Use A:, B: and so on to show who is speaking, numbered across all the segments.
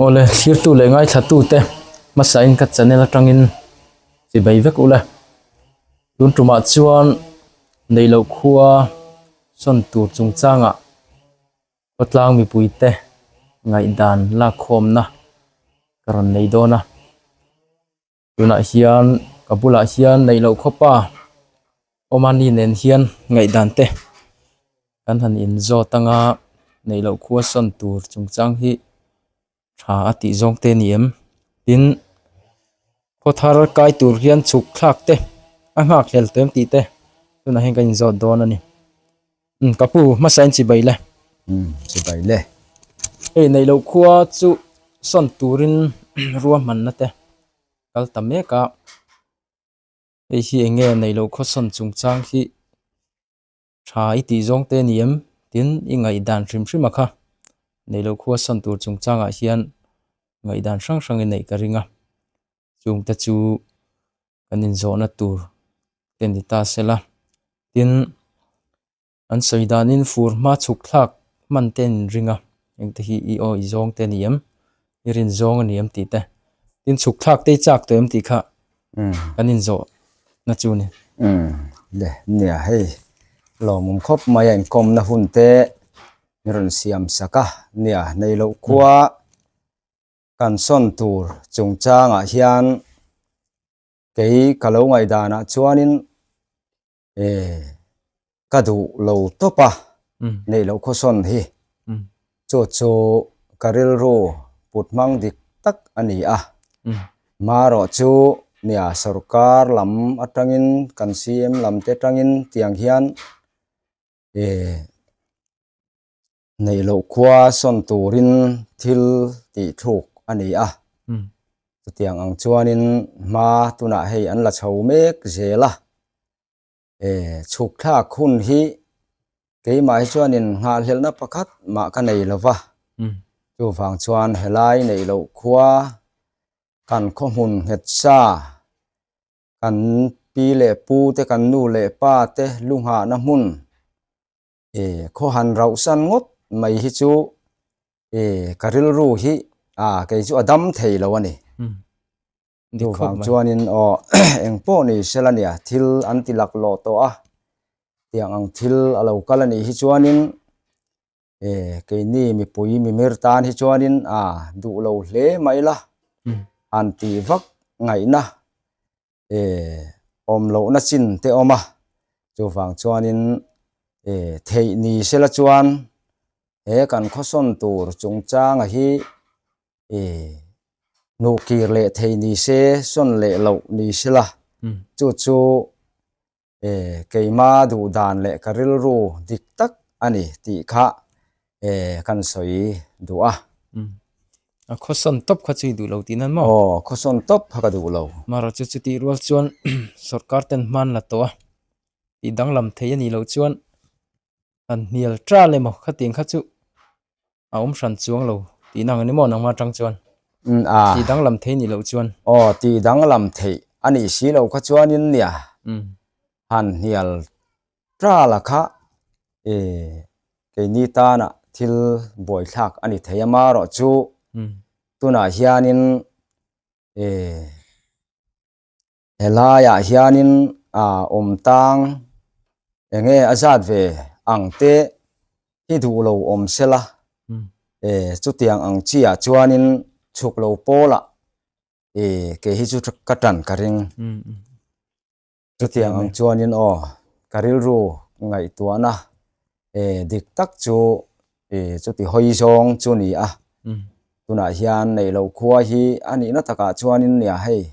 A: Awle thirtu leh ngaithlatute hmasain ka channel atangin chibei vek ula, tun tumah chuan neilo khua sawn tur chungchanga khawtlang mipuite ngaihdan lakkhawmna ka rawn nei dawn a. tunah hian ka bulah hian neih loh khawpa awm a ni nen hian ngaihdan te kan han in zawt ang a neih loh khua sawn tur chung chang hi tha a tih zawng te ni em tin khaw thar kai tur hian chhuk thlak te a nghak hlel tih te tunah hian kan in zawt dawn a ni. Umm ka pu hmasa in chibai le. Umm chibai
B: le. Hei neih
A: loh khua chu sawn turin rua hman na te kal ta mek a. Hei hi eng nge neih loh khua sawn chung chang hi tha i tih zawng te ni em? Tin i ngaih dan hrim hrim a kha. Neih loh khua sawn tur chung chang ah hian ngaih dan hrang hrang in neih ka ring a. chungte chu kan inzawhna tur te ni ta se la tin an sawi danin fur hma chhuk thlak hman te in ring a engte hi i aw i zawng te ni em i rin zawng a ni em tih te tin chhuk thlak te i chak tawh em tih kha kan inzawh na chu ni le
B: nia hei lawmawm khawp mai a inkawmna hun te min rawn siam sak a nia nei loh khua kan sawn tur chungchangah hian kei ka lo ngaihdanah chuanin e ka duh lo tawp a neih loh khawsawn hi chu chu ka rilru put hmang dik tak a ni a marawh chu nia sorkar lam atangin kan CM lam te atangin tiang hian e Neih loh khua sawn turin thil tih thuk a ni a. Chutiang ang chuanin hma tunah hei an la chho mek zel a. E, chhukthlak hun hi keimah hi chuanin nghahhlelna pakhat mah ka nei lo va. Chuvang chuan helai neih loh khua kan khaw hmun nghetsa kan pi leh pu te kan nu leh pa te lu nghahna hmun e khaw han rauh san ngawt mai hi chu e ka rilru hi a kei chu a dam thei lo a ni hmm. du vang chuanin o eng pawh ni sel a nia thil an ti lak lo tawh a tiang ang thil a lo kal a nih hi chuanin e kei ni mipui mimir tan hi chuanin a duh lo hle mai la hmm. an ti vak ngaihna e awm lohna chin te awm a chuvang chuanin e theih ni sela chuan he kan khawsawn tur chungchanga hi e hnuh kir leh thei ni se sawn leh loh ni sela chu chu e, keima duh dan leh ka rilru dik tak a ni tih kha e, kan sawi duh a. Mm. A
A: khawsawn tawp kha chu i duh lo tih nan maw? Aw, khawsawn tawp kha
B: ka duh lo. Mara chu chutih rual
A: chuan sorkar ten hman la tawh a, tih danglam thei a nih loh chuan han hnial tral emaw khatiang kha chu a awm hran chuang lo tihna ang emaw nangma atang chuan tih danglam thei nih loh chuan aw tih danglam
B: thei a nih si lo kha chuanin nia han hnial tral a kha e keini tana thil buaithlak a ni thei ama erawh chu tunah hianin e He laiah hianin aa awm tang enge a zat ve ang te hi duh lo awm sela e chutiang ang chiah chuanin chhuk lo pawla e kei hi chu ka tan ka ring chutiang ang chuanin aw ka rilru ngaihtuahna E dik tak chu e chuti hawi zawng chu ni a hmm. tunah hian nei lo khua hi a nihna takah chuanin nia hei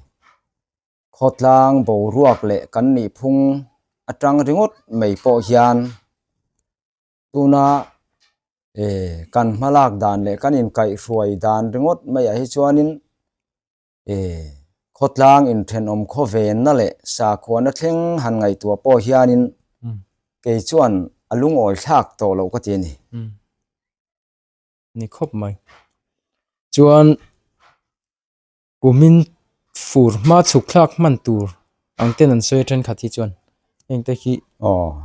B: khawtlang boruak leh kan nih phung atang ringawt mai pawh hian tuna e kan hmalak dan leh kan inkaih hruai dan ringawt mai a hi chuanin E. Khawtlang in thenawm khawvenna leh sakhuana thleng han ngaihtuah pawh hianin kei chuan a lungawi thlak tawh loh ka ti a ni.
A: Ni khawp mai. Chuan U Min fur hma chhuk thlak hman tur ang ten an sawi a thenkhat hi chuan heng te hi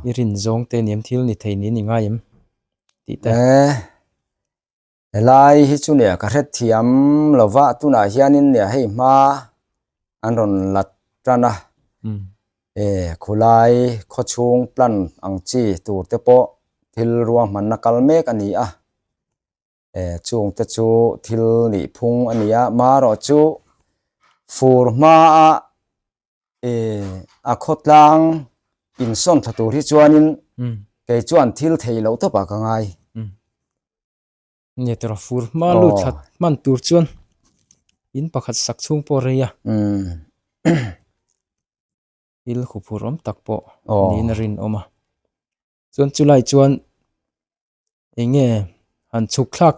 A: i rinzawng te ni em, thil ni thei ni a ni ngai em tih te. E. Helai hi chu neh ka hrethiam lova tunah hianin neh hei hma an rawn lat tan a
B: e khulai khaw chhung plan ang chi tur te pawh thil ruang hmanna kal mek a ni a e chung te chu thil nih phung a ni a marawh chu fur hma a e a khawtlang insawn thla tur hi chuanin hmm. kei chuan thil
A: thei lo tawpa ka ngai hmm. nge tera fur hma lu oh. that man tur chuan in pakhat sak chung pawh rei a hmm. il khu phur awm tak pawh oh. niin rin awm a chuan chulai chuan Eng nge
B: han chhuk thlak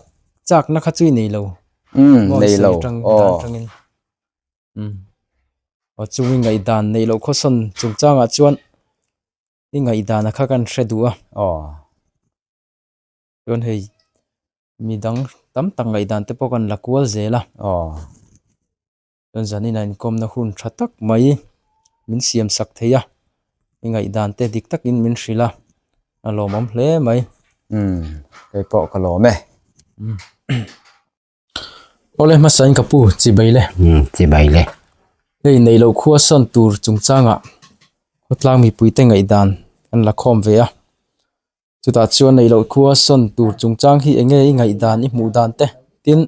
B: chakna kha chu i nei lo. Umm nei lo aw umm aw chung i ngaihdan neih loh khawsawn chungchangah chuan
A: i ngaihdana kha kan hre duh a aw chuan hei midang tam tak ngaihdan te pawh kan la kual zel a aw. chuan zanin a inkawmna hun tha tak mai min siam sak
B: thei a i ngaihdan te dik takin min hrilh a a lawmawm hle mai keipawh ka lawm e
A: awle hmasa in ka pu chibai le chibai
B: le hei neih loh khua sawn tur chungchangah khawtlang mipui te ngaihdan
A: an la khawm ve a. Chutah chuan neih loh khua sawn tur chungchang hi enge i ngaih dan i hmuh dan te tin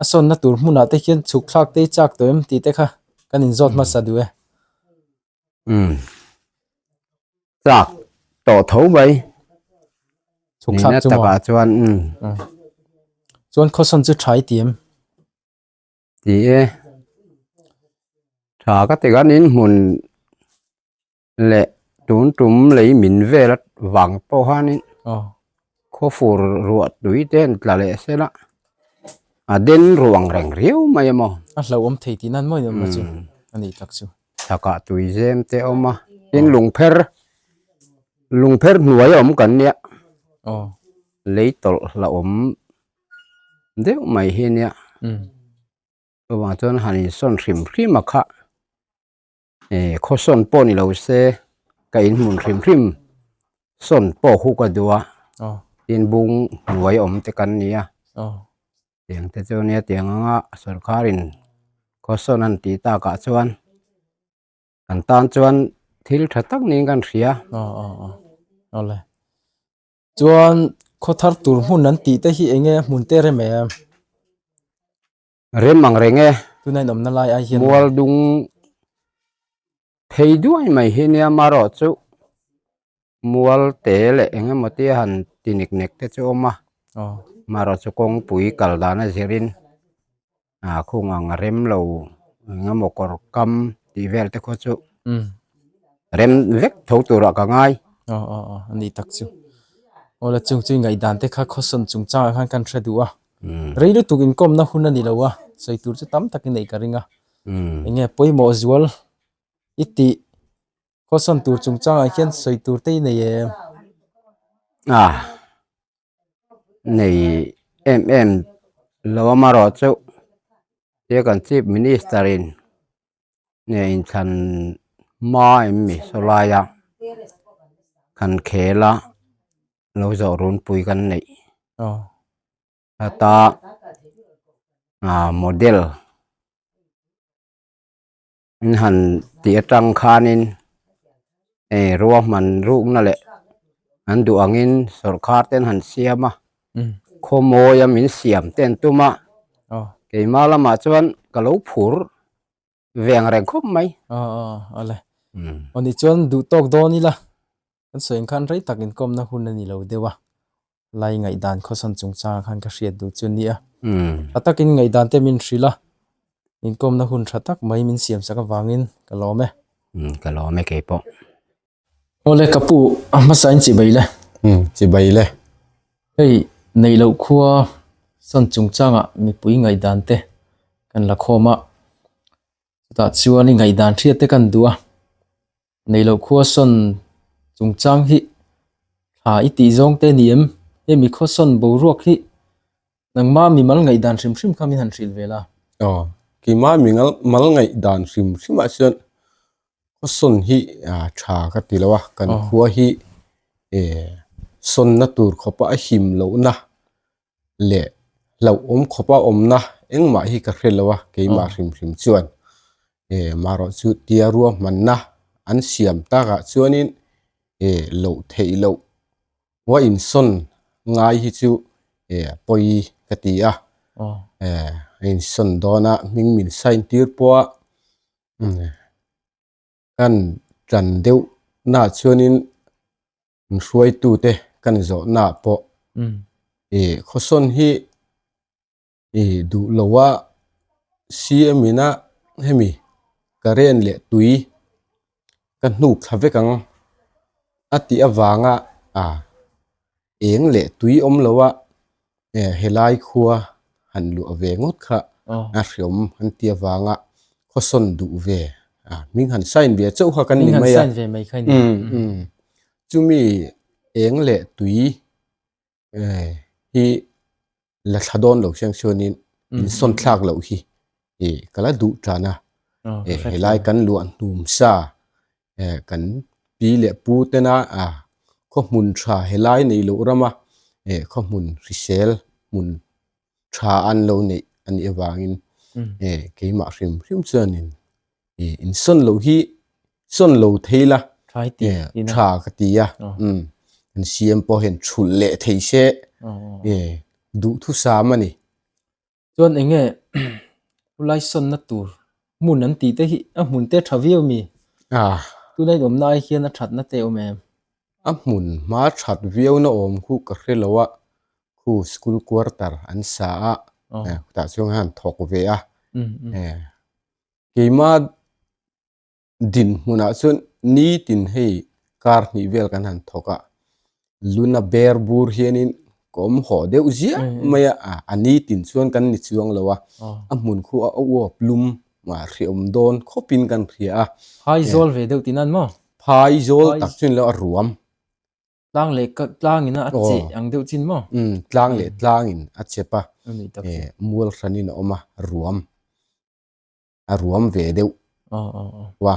A: a sawnna tur hmunah te hian chhuk thlak te i chak tawh em tih te kha
B: kan inzawt hmasa duh e. Umm chak tawh tho mai
A: chhuk thlak chu maw chuan
B: umm chuan
A: khaw sawn chu tha i ti em ti e tha ka ti kan inhmun
B: leh tun tum lei min vel a vang pawh hanin khaw fur ruah tui te an tla leh sel a
A: a den ruang reng riau mai a maw a hlauhawm thei tih nan mawi em chu a ni tak chu thakah tuizem te a awm a tin lung pher lung pher hnuai a awm kan nia lei tawlh hlauhawm
B: deuh mai hi nia chuvang chuan han insawn hrim hrim a kha. E khawsawn pawh ni lo se ka in hmun hrim hrim sawn pawh hu ka duh a tin bung hnuai awm te kan ni a tiang te chu nia tiang anga sawrkar in
A: khawsawn an tih tak ah chuan kan tan chuan thil tha tak niin kan hria chuan khaw thar tur hmun an tih te hi eng nge hmun te rem em.
B: Rem ang reng e. Tuna in awmna lai ai
A: hian. Mual dung phei duai mai hi nia marawh chu
B: mual te leh eng emaw tia han ti nek nek te chu awm a marawh chu kawngpui kal dan a zir in ah khung ang rem lo eng emaw kawr kam tih vel te khaw chu rem vek tho tur ah ka
A: ngai aw aw aw a ni tak chu aw lah chung chu ingaihdan te kha khawsawn chung chang ah khan kan hre duh a. Rei lutuk inkawmna hun a ni lo a, sawi tur chu tam takin neih ka ring a. Eng nge pawimawh zual i tih khawisawn tur chungchangah hian sawi tur te i nei em? A nei em em lo amarawh chauh,
B: tia kan Chief Minister-in nge inthlan hma em ni saw lai a kan khel a lo zawh runpui kan neih heta ahh model in han tih atang khanin. Hei rua hman rukna leh an duh angin sorkar ten han siam a, khawmawia min siam te an tum a,
A: keimah lamah chuan ka lo phur ve ang reng khawp mai. A a a le. Aw ni chuan duh tawk dawn ila, kan sawi ang khan rei takin kawmna hun a ni lo deuh a, Lai ngaihdan khawsan chung changa khan ka hriat duh chu nia. Tha takin ngaihdan te min hrilh a, inkawmna
B: hun tha tak mai min siam sak avangin ka lawm e. Ka lawm e kei pawh. Aw le
A: ka pu, a hmasa in chibai le.
B: Chibai le. Hei, neih loh khua san chung changa mipui ngaihdan te kan
A: la khawm a, chutah chuan i ngaihdan hriat te kan duh a nei loh khuasawn chung chang hi thla i tih zawng te ni em hemi khawsawn boruak hi nangma mi mal ngaihdan hrim
C: hrim kha min han hrilh ve la aw keima mi ngal mal ngaihdan hrim hrim ah chuan khawsawn hi a tha ka ti lo a kan khua hi e sawn na tur khawpa a him loh na leh hlauh awm khawpa awmna engmah hi ka hre lo a keimah hrim hrim chuan eh marawh chu tia ruahmanna an siam takah chuanin eh lo theih loh vua insawn ngai hi chu eh pawi ka ti a eh a insawn dawn a hming min sign tir pawh a kan tan deuh na chuanin. Kan hruaitute ka ni zawhnaah pawh i khawsawn hi i duh lo a, CM ina hemi current leh tui ka hnuk thla vek ang a tih avanga eng leh tui awm loh a, eh helai khua han luah ve ngawt kha a hriawm an ti avanga khawsawn duh ve a hming han sign ve chauh kha kan ni mai a chumi eng leh tui eh hi la thla dawn lo hrang hrang in insawn thlak loh hi eh ka la duh tan a eh helai kan luah hnum sa. eh kan pi leh pu tena ah khaw hmun tha he lai nei loh rama eh khaw hmun hrisel hmun tha an lo neih a nih avangin eh keimah hrim hrim chuanin eh insawn loh hi sawn lo thei la eh
A: tha ka ti
C: a kan siam pawh hian chhulh leh thei se eh duhthusam a ni. Chuan
A: enge khulai sawnna tur hmun an tih te hi a hmun te tha viau mi? Ah. Tuna in awmna ai hian a thatna te awm em? A hmun
C: hma that viauna awm khu ka hre lo a, khu school quarter an sa a, khutah chuan an thawk ve a, keima din hmunah chuan nitin hei kar hnih vel kan han thawk a luna ber bur hianin kawm haw deuh ziah mai a a a nitin chuan kan ni chuang lo a a hmun khuh a uau plum mah hriawm dawn khawpin kan hria a phai zawl ve deuh
A: tina maw phai zawl
C: tak chin lo a ruam tlang
A: leh ka tlangin a che ang deuh chin maw tlang leh tlangin
C: a chep a
A: mual hran in a
C: awm a ruam a ruam ve deuh wa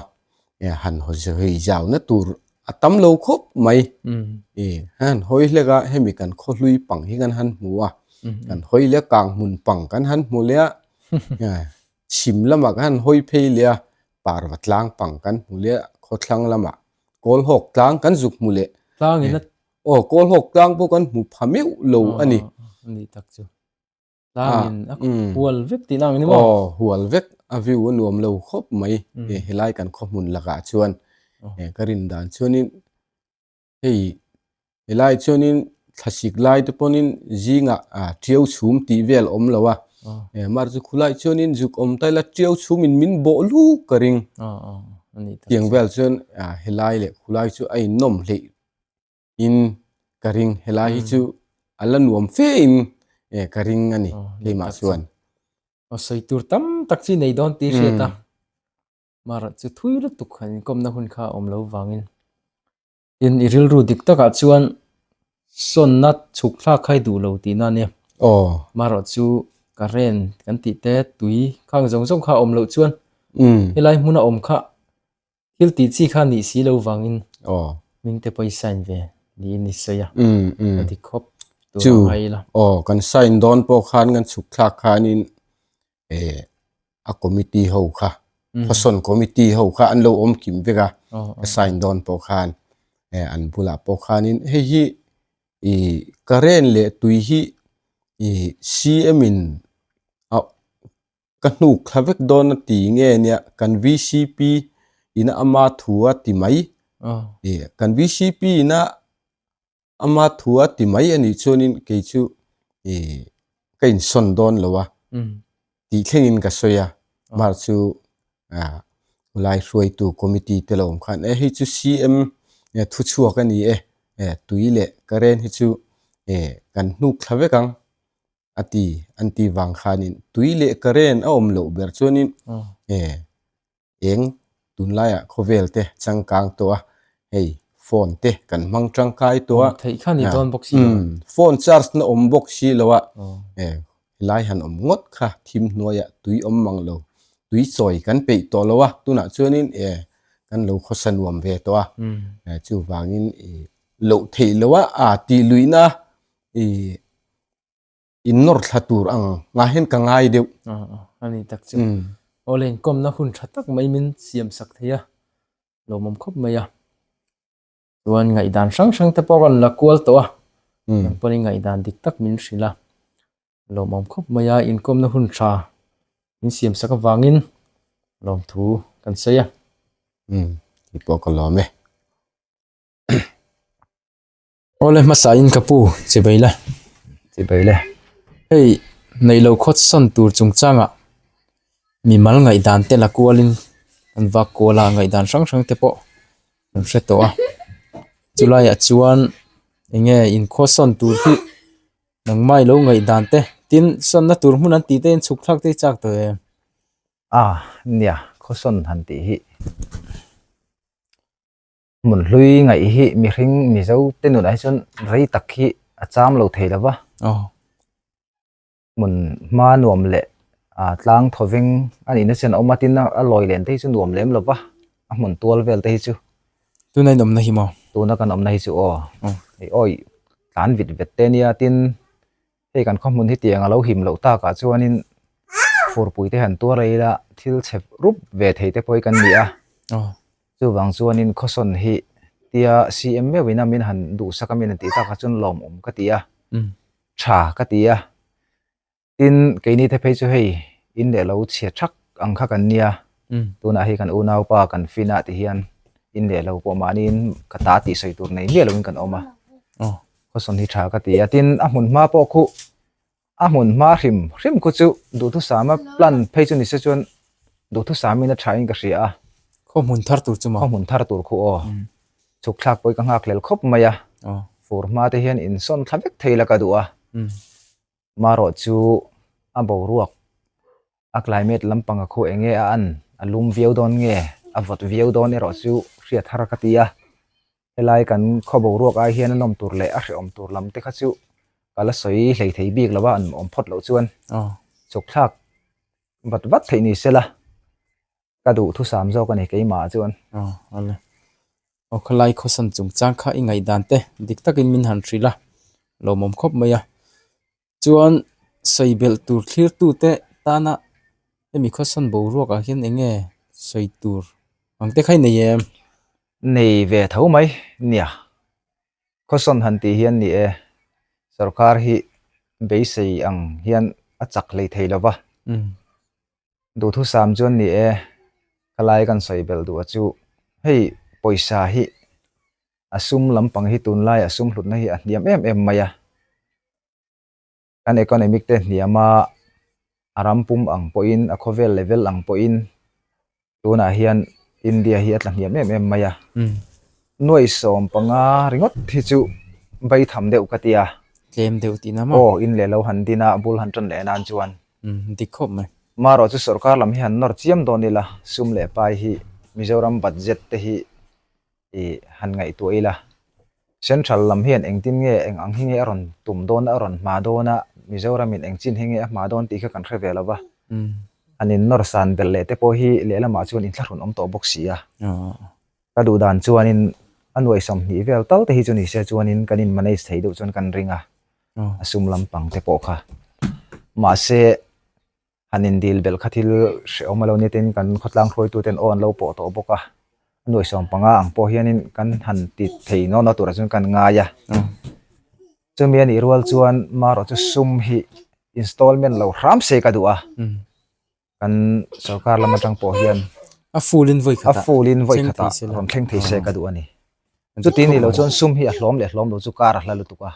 C: e han ho se hei zau na tur a tam lo khawp mai e han hawi hlek a hemi kan khaw hlui pang hi kan han hmu a kan hawi leh kang hmun pang kan han hmu leh a chim lama kan hawi phei leh a par va tlang pang kan hmu leh a khaw thlang lama kawl hawk tlang kan zuk hmu leh tlang in
A: o kawl hawk
C: tlang pawh kan hmu pha meuh lo a ni ni tak chu
A: tlangin a hual vek tih nang a ni maw? Aw, hual vek. A
C: view a nuam lo khawp mai. Helai kan khaw hmun lakah chuan ka rin dan chuanin hei helai chuanin thla sik lai te pawnin zingah ṭiau chhum tih vel a awm lo a, mar chu khulai chuanin zuk awm ta ila ṭiau chhumin min bawh luh ka ring.
A: Tiang vel chuan
C: helai leh khulai chu a innawm hleih in ka ring helai hi chu a la nuam fe in e ka ring ani keimah chuan a soi
A: tur tam tak chi nei don ti hriat a mara chu thui lut tuk han komna hun kha om lo wangin in i rilru dik taka chuan sonna chhuk thlak khai duh lo ti na nia oh mara chu ka ren kan ti te tui khang zong zong kha om lo chuan helai hmuna om kha Thil tih chi kha nih si lo vang in. Aw. Min te pawh i sign ve ni in ni sawi a. Um um. A dik khawp. Chu. Ai la. Aw kan sign dawn
C: pawh khan kan chhuk thlak khan in eh a committee ho kha khawsawn committee ho kha an lo awm kim vek a. Aw aw. Ka sign dawn pawh khan eh an bul ah pawh khan in hei hi i current leh tui hi i CM in a ka hnuk thla vek dawn a ti nge nia kan vcp in a ama thu a ti mai e kan vcp in a ama thu a ti mai ani chuanin kei chu e ka in son dawn lo a ti thlengin ka sawi a mar chu a lai hruai tu committee te lawm khan e hei chu cm e thu chhuak ani e e tui leh ka ren hi chu e kan hnuk thla vek ang a ti an tih vang khanin tui leh current a awm loh ber chuanin e eng tunlaiah khawvel te changkang tawh a hei phone te kan hmang tangkai tawh a theih khan i dawn bawk
A: si lo phone charge
C: na awm bawk si lo a e helai han awm ngawt kha thim hnuaiah tui awm mang lo tui chawi kan peih tawh lo a tunah chuanin e kan lo khawsa nuam ve tawh a chuvangin i loh theih loh a a tih luihna i in nawr thla tur ang ngah hian ka ngai deuh a ni tak che
A: aw le inkom na hun tha tak mai min siam sak thei a lo mawm khawp mai a chuan ngaih dan hrang hrang te pawh rawn la kual tawh a nang pawh ni ngaih dan dik tak min hrilh a lo mawm khawp mai a inkom na hun tha min siam sak avangin lawm thu kan sawi a
C: tih pawh ka lawm e.
A: Awle hmasa in ka pu chi bai le chi bai le hei neih lo khawt sawn tur chung changa mi mal ngaih dan te la kual in an vak kual a ngaih dan hrang hrang te pawh an hre tawh a chu lai ah chuan eng nge in khaw sawn tur hi nangmai lo ngaih dan te tin sawn na tur hmun an ti te in chhuk thlak te hi chak tawh em a
D: nia khaw sawn han tih hi. hmun hlui ngaih hi mihring mizo te nunah hi chuan rei tak hi a cham lo thei lo va hmun hma nuam leh ah tlang thaw veng a nihna chian a awm a tin a lawi len te hi chu nuam lem lo va a hmun tual vel te hi chu tuna in awmna
A: hi maw tuna kan awmna hi chu
D: aw aih awih tlan vit vet te a nia tin. Hei kan khawhmun hi tiang a lo him loh takah chuanin furpui te han tuar a ila thil chep rup ve thei te pawhin kan ni a. Chuvang chuanin khawsawn hi tia siam meuhin a min han duhsak a min han tih takah chuan lawmawm ka ti a, tha ka ti a. Tin, keini te phei chu hei in leh lo chhia thak ang kha kan nia. Tunah hi kan unaupa kan Fina te hian in leh lo pawh mahniin ka ta tih sawi tur nei miah loin kan awm a. Khawsawn hi tha ka ti a, tin a hmun hma pawh khuh, a hmun hma hrim hrim khuh chu Duhthusama plan phei chu ni se chuan Duhthusami na thain ka hria a. Khaw hmun thar
A: tur chu maw? Khaw hmun thar tur khuh aw.
D: Chhukthlak pawh i ka nghak lel khawp mai a. Fur hma te hian in sawn thla vek thei la ka duh a. Marawh chu a boruak a climate lampanga khaw enge a an a lum viau dawn nge a vawt viau dawn erawh chu hriat har ka ti a helai kan khaw boruak ai hian a nawm tur leh a hrehawm tur lam te kha chu ka la sawi hlei thei bik lo a an awm phawt loh chuan chawkthlak vat vat theih ni sela. Ka duh thusam zawk a ni keimah chuan. Aw, a le.
A: Aw, khawlai khawsan chungchang kha i ngaihdan te dik takin min han hrilh a, lawmawm khawp mai a. Chuan sawi belh tur thlirtute tana hemi khawsan boruakah hian eng nge sawi tur ang te kha i nei em? Nei
D: ve tho mai nia. Khawsan han tih hian ni e, sorkar hi beisei ang hian a chak lei thei lova. Duhthusam chuan ni e, ka lai kan sawi belh duh a chu hei pawisa hi a sum lampang hi tunlai a sum hlutna hi a hniam em em mai a, kan economic te hniam a, a ram pum ang pawhin a khawvel leh vel ang pawhin tunah hian India hi a tla hniam em em mai a, nuaisawm panga ringawt hi chu baitham deuh ka tia, tlem deuh tihna
A: maw? Aw in leh lo han din
D: a, a bul han tan leh nan chuan. dik khawp mai.
A: Marawh chu sorkar
D: lam hi han nawr chiam dawn ila, sum leh pai hi Mizoram budget te hi ih han ngaihtuah ila, central lam hian engtin nge eng ang hi nge a rawn tum dawn a, a rawn hma dawn a, Mizoram in eng chin hi nge a hma dawn tih kha kan hre ve lova, han in nawr san belh leh te pawh hi lehlamah chuan in thlahrun awm tawh bawk si a, ka duh dan chuanin a nuaihsam hnih vel tal te hi chu nise chuanin kan in manage thei deuh chuan kan ring a. a sum lampang te pawh kha mahse han indil belh kha thil hreh awm a lo nitin kan khawtlang hruaitu ten aw an lo pawh tawh bawk a a nuaihsawm panga ang pawh hianin kan han ti thei no no turah chuan kan ngai a chumi anih rual chuan maraw chu sum hi installment lo hram se ka duh a. kan sorkar lam atang pawh hian a full in vawi
A: khata a full in vawi khata rawn thleng thei se
D: ka duh ani chuti ni lo chuan sum hi a hlawm leh hlawm lo chu kar a hla lutuk a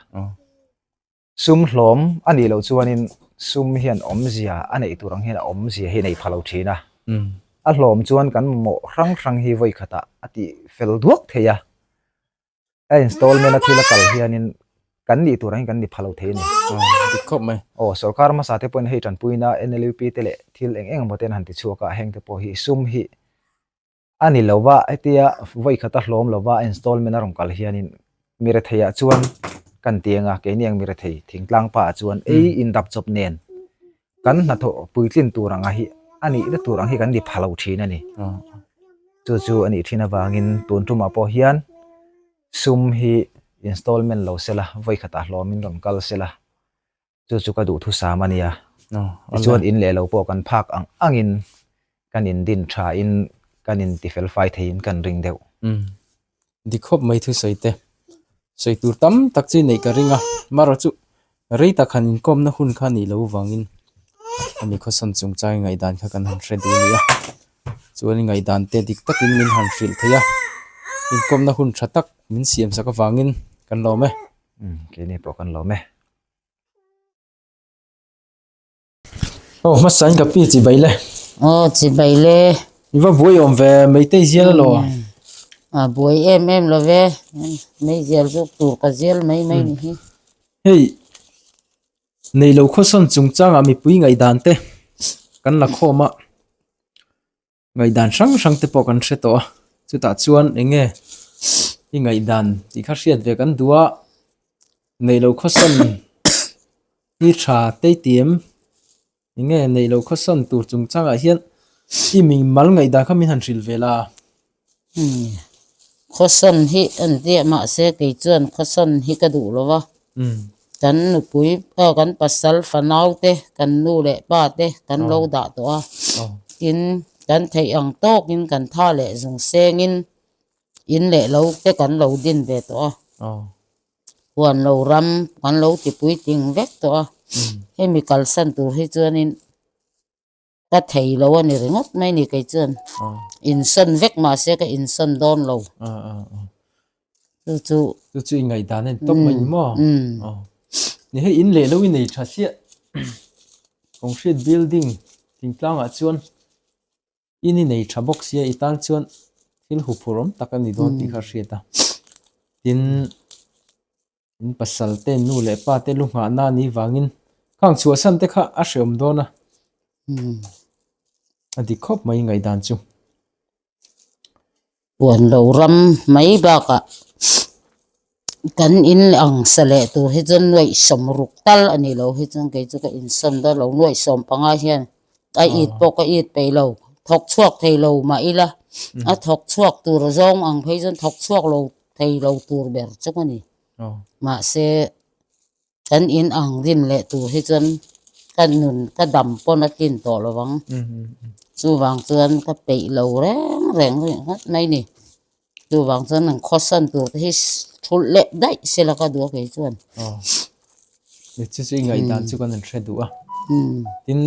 D: sum hlawm a nih loh chuanin sum hian awmzia a neih tur ang hian a awmzia hi a nei pha lo thin a a hlawm chuan kan mawh hrang hrang hi vawi khata a tih fel duak thei a a installment a thil a kal hianin kan nih tur angin kan ni pha lo thei a ni dik khawp mai
A: aw sorkar masa te pawhin
D: hei tanpuina NLUP te leh thil eng eng emaw ten han ti chhuak a heng te pawh hi sum hi a ni lova hetia vawikhat a hlawm lova installment a rawn kal hianin mi retheiah chuan kan tianga keini ang mi rethei thingtlang pa chuan ei in dap chawp nen kan hna tho puitlin tur anga hi a nih na tur ang hi kan ni phalo thin a ni chu chu a nih thin avangin tun tumah pawh hian sum hi installment lo sela voi khata hlawmin rawn kal sela chu chu ka duh thusam a nia chuan
A: in leh lo pawh
D: kan phak ang angin Kan in din tha in, kan in ti fel fai thei in kan ring deuh. Umm.
A: Dik hawp mai thusawi te. Sawi tur tam tak chu neih ka ring a. Mara chu rei tak han in kawmna hun kha nih loh vang in a ni khawsawn chung chang in ngaihdan kha kan han hre duh a ni a. Chuan in ngaihdan te dik tak in min han hrilh thei a. In kawmna hun tha tak min siam sak avang in kan lawm e. Umm. Keini pawh
D: kan lawm e.
A: Aw hmasa in ka pi chi bai le. Aw chi bai
E: le. I va buai om
A: ve meitei zial lo. A buai
E: em em lo ve. Mei zial zuk tur ka zial mai mai ni hi. Hei.
A: Nei lo kho son chung chang a mi pui ngai dan te. Kan la kho ma. Ngaidan hrang hrang te pawh kan hre tawh a, chutah chuan eng nge i ngaidan tih kha hriat ve kan duh a, neih loh khawsawn i tha teitur em, eng nge neih loh khawsawn tur chungchangah hian i min mal ngaidan kha min han hrilh ve la. Umm.
E: Khawsawn hi a ni diah mahse kei chuan khawsawn hi ka duh lo va. Kan nupui ah kan pasal fanau te kan nu leh pa te kan lo dah tawh a. Tin, kan theih ang tawkin kan tha leh zung sengin in leh lo te kan lo din ve tawh a. Huan lo ram kan lo tipui ting vek tawh a. Hemi kalsan tur hi chuanin. Ka thei lo a ni ringawt mai ni kei chuan insawn vek mahse ka insawn dawn lo chu chu
A: chu chu ingai dan en top mai mo ni hei in leh lo i nei tha hliah concrete building ting tlangah chuan in i nei tha bawk sia i tan chuan thil hu phur awm tak a ni dawn tih kha hriat a tin in pasal te in nu leh pa te lu nghah na ni vang in kha ang chhuah san te kha a hre awm dawn a a dik khawp mai ngaih dan chu
E: puan lo ram mai bak a kan in ang sa leh tur hi chuan nuai sawm ruk tal a nih loh hi chuan kei chu ka in sawm dar lo nuai sawm panga hian ka it pawh ka it peih lo thawk chhuak thei lo mah ila a thawk chhuak tur zawng ang phei chuan thawk chhuak lo thei lo tur ber chawk a ni. Mahse, kan in ang rim leh tur hi chuan ka nun ka dam pawn a tlin tawh lo vang. Chuvang chuan ka peih lo reng reng ringawt ngawt mai ni. Chuvang chuan an khawsan tur te hi ṭhulh leh daih sela ka duh a kei chuan.
A: Chu chu i ngaihdan chu kan han hre duh a. Tin,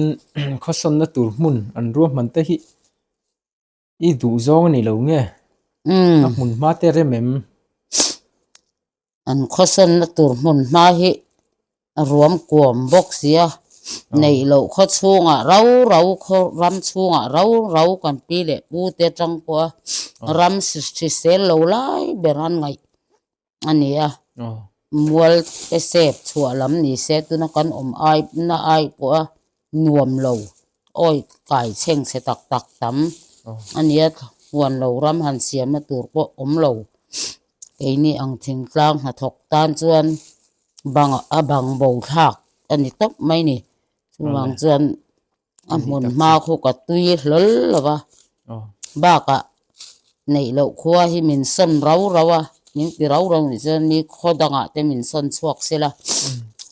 A: khawsanna tur hmun an ruahman te hi. I duhzawng a nih loh nge ka hmun hma te rem em?
E: An khawsenna tur hmun hma hi a ruam kuam bawk sia, neih loh khaw chhungah rau rau khaw ram chhungah rau rau kan pi leh pu te atang pawha ram hrisel lo lai ber an ngaih. a ni a mual te sep chhuah lam ni se tuna kan awm ai na ai pawh a nuam lo awi kai cheng che tak tak tam a ni a huan lo ram han siam na tur pawh awm lo keini ang thingtlang hnathawk tan chuan bang a bang bo thlak a ni tawp mai a ni chuvang chuan-- a hmun hma khawk a tui hlawl lo va bakah neih loh khua hi min sawn rau rau a min ti rau rau nih chuan mi khaw dangah te min sawn chhuak sil a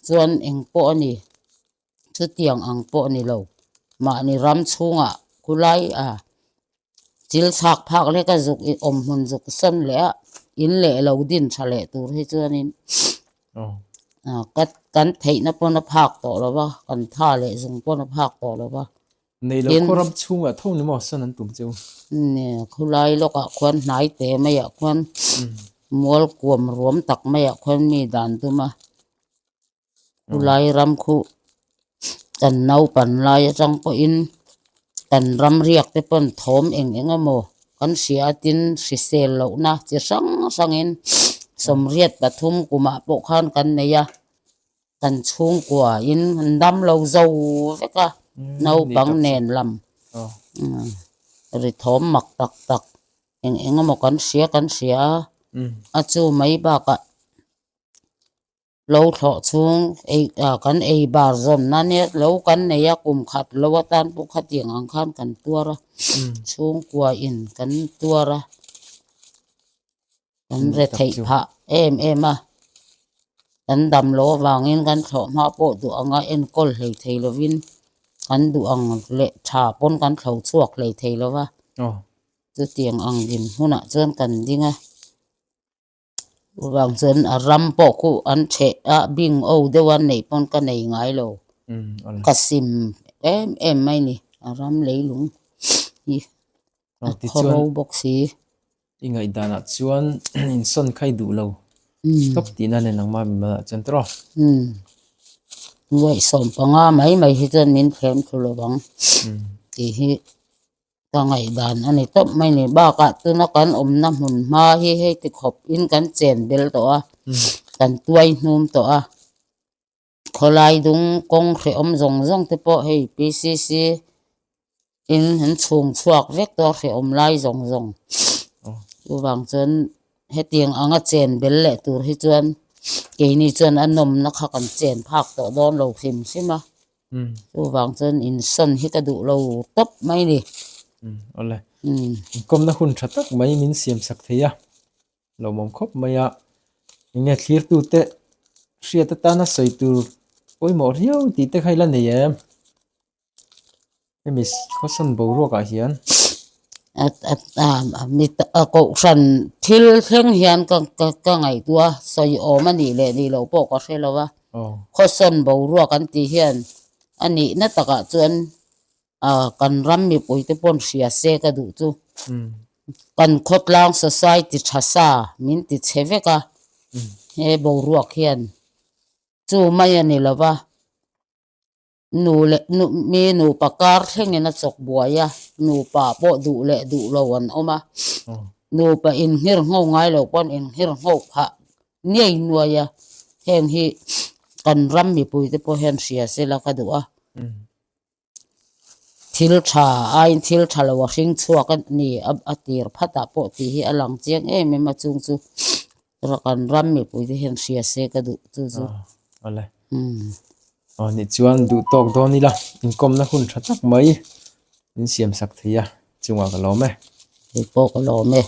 E: chuan eng pawh a ni chutiang ang pawh a ni lo mahni ram chhungah khulai a thil chhak phak leh ka zuk ih awm hmun zuk san leh a in leh lo din tha leh tur hi chuanin kan theihna pawn a phak tawh lo va kan tha leh zung pawn a phak tawh lo va nei lo khaw ram
A: chhunga tho ni maw sawn an tum che u nge
E: khulai lawk ah khuan hnai te mai ah khuan mual kuam ruam tak mai ah khuan mi dan tum a. chulai ram khu kan naupan lai atang pawhin kan ram riak te pawh an thawm eng eng a maw kan hria a tin hrisel lohna chi hrang hrang in sawmriat pathum kumah pawh khan kan nei a kan chhungkua in an damlo zo vek a naupang nen lam ri thawm mak tak tak eng eng a maw kan hria kan hria a a chu mai bakah. lo thlawh chhung ei ah kan ei bar zawm na ania lo kan nei a kum khat lo atan pawh khatiang ang khan kan tuar a chhungkua in kan tuar a kan re theih phah em em a kan damlo avangin kan thlawh hma pawh duh anga enkawl hlei thei lovin kan duh ang leh tha pawn kan thlo chhuak hlei thei lo va chutiang ang inhmun ah chuan kan ding a. Ruah chuan a ram pawh khu an chheh a bing o deuh a neih pawn ka nei ngai lo ka sim em em mai ni a ram leilung hi a
A: thaw ro bawk si.
E: I
A: ngaihdanah chuan in sawn khai duh lo stop tihna nen ang mah mimal ah chuan tawrh a. Ruah
E: sawm panga mai mai hi chuan min thlem thlu lo ang tih hi ka ngaih dan a ni tawp mai ni bakah tuna kan awmna hmun hma hi hei tikhawp in kan chen bel tawh a kan tuai hnum tawh a khawlai dung kawng hrehawm zawng zawng te pawh hei PCC in an chhung chhuak vek tawh a hrehawm lai zawng zawng chuvang chuan hetiang anga chen bel leh tur hi chuan keini chuan a nawmna kha kan chen phak tawh dawn lo hrim hrim a. Chuvang chuan in sawn hi ka duh lo tawp mai ni. Awle.
A: Inkomna hun tha tak mai min siam sak thei a. Lo mawm khawp mai a. Enge thlirtu te hriat atana sawi tur pawimawh riau tih te kha i la nei em? hemi khawsan boruakah hian
E: a kohhran thil thleng hian ka ka ka ngaihtuah a sawi awm a nih leh nih loh pawh ka hre lo a khawsan boruak an tih hian a nihna takah chuan ah kan ram mipui te pawh an hria se ka duh chu kan khawtlang society tha sa min ti chhe vek a he boruak hian chu mai a ni lo va. nu leh nu mi nupa kar thlengin a chawk buai a nupa pawh duh leh duh lo an awm a nupa in nghir ngho ngai lo pawn in nghir ngho phah ngei nuai a heng hi kan ram mipui te pawh hian hria sela ka duh a thil tha aiin thil tha lo a hring chhuak a ni a tir phat ah pawh tih hi a lang chiang em em a chung chu. kan ram mipui te hian hria se ka duh tu chu ale
A: a ni chuan duh tawk dawn ila inkawmna hun tha tak mai in siam sak thei a chungah ka lawm e kei pawh ka
E: lawm e